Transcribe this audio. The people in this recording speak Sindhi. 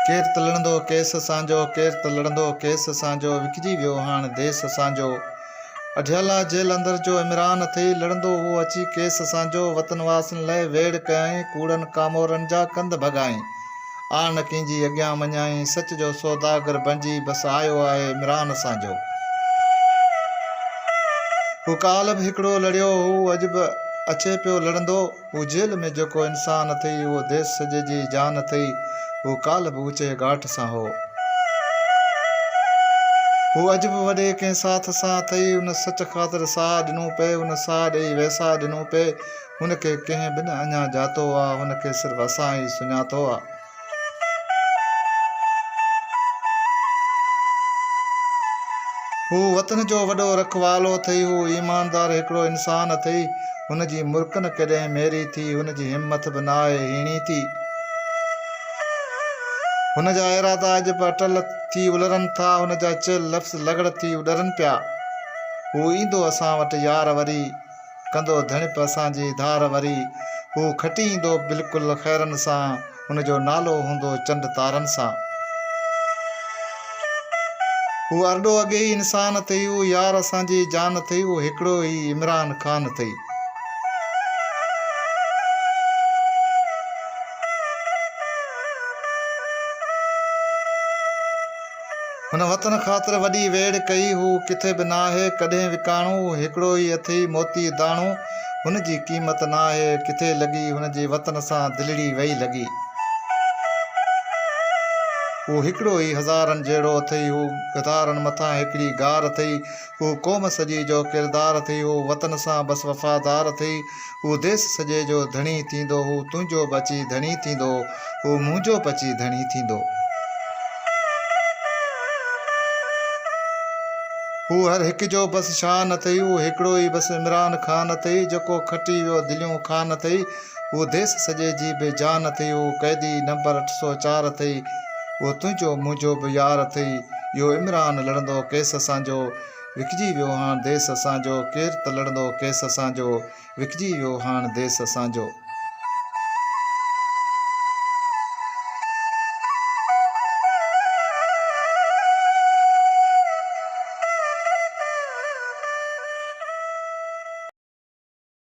ڪير ته لڙندو ڪيس اسانجو ڪير ته لڙندو ڪيس اسانجو وڪجي ويو هاڻ ديس اسانجو اڊيالا جيل اندر جو عمران اٿئي لڙندو هو اچي ڪيس اسانجو وطن واسين لئه ويڙهه ڪيائين ڪوڙن ڪامورن جا ڪنڌ ڀڳائين آء نه ڪنهن جي اڳيان مڃائين، سچ جو سوداگر بڻجي بس آيو آهي عمران اسان جو. هو ڪالهه به هڪڙو لڙيو هو، اڄ به اچي پيو لڙندو. هو جيل ۾ جيڪو انسان اٿئي، اهو ديس سڄي جي جان اٿئي. هو ڪالهه به اوچي ڳاٽ سان هو. هو اڄ به وڏي ڪنهن ساٿ سان اٿئي. ان سچ خاطر ساهه ڏنو پئي، ان ساهه ڏئي ويساهه ڏنو پئي. هن کي ڪنهن به نه اڃا ڄاتو آ، هن کي صرف اسان ئي سڃاتو آ. هو وطن جو وڏو رکوالو اٿئي، هو ايماندار هڪڙو انسان اٿئي، هن جي مرڪ نه ڪڏهن ميري ٿي، هن جي همٿ به ناهي هيڻي ٿي. هن جا ارادا اڄ به اٽل ٿي الرن ٿا، هن جا چيل لفظ لغڙ ٿي اڏرن پيا. هو ايندو اسان وٽ يار وري. ڪندو ڌڻپ اسان جي ڌار وري هو کٽي ايندو بلڪل خيرن سان هن جو نالو هوندو چنڊ تارن سان هو ارڏو اڳي ئي انسان اٿئي هو يار اسان جي جان اٿئي هو هڪڙو ئي عمران خان اٿئي هن وطن خاطر وڏي ويڙهه ڪئي، هو ڪٿي به ناهي ڪڏهن وڪاڻو، هڪڙو ئي اٿئي موتي داڻو، هن جي قيمت ناهي ڪٿي لڳي، هن جي وطن سان دلڙي وئي لڳي. هو هڪڙو ئي هزارن جهڙو اٿئي، هو گدارن مٿان هڪڙي غار اٿئي، هو قوم سڄي جو ڪردار ٿئي، هو وطن سان بس وفادار ٿئي، هو ديس سڄي جو ڌڻي ٿيندو، هو تنهنجو به اچي ڌڻي ٿيندو، هو منهنجو به اچي ڌڻي ٿيندو. هو هر هڪ جو بس شان ٿئي، هو هڪڙو ئي بس عمران خان ٿئي، جيڪو کٽي ويو دليون کان ٿئي، اهو ديس سڄي جي به جان اٿئي اهو قيدي نمبر اٺ سؤ چار اٿئي اهو تنهنجو منهنجو به يار اٿئي اهو عمران لڙندو ڪيس اسان جو وڪجي ويو هاڻ ديس اسان جو ڪير ته لڙندو ڪيس اسان جو وڪجي ويو هاڻ ديس اسان جو.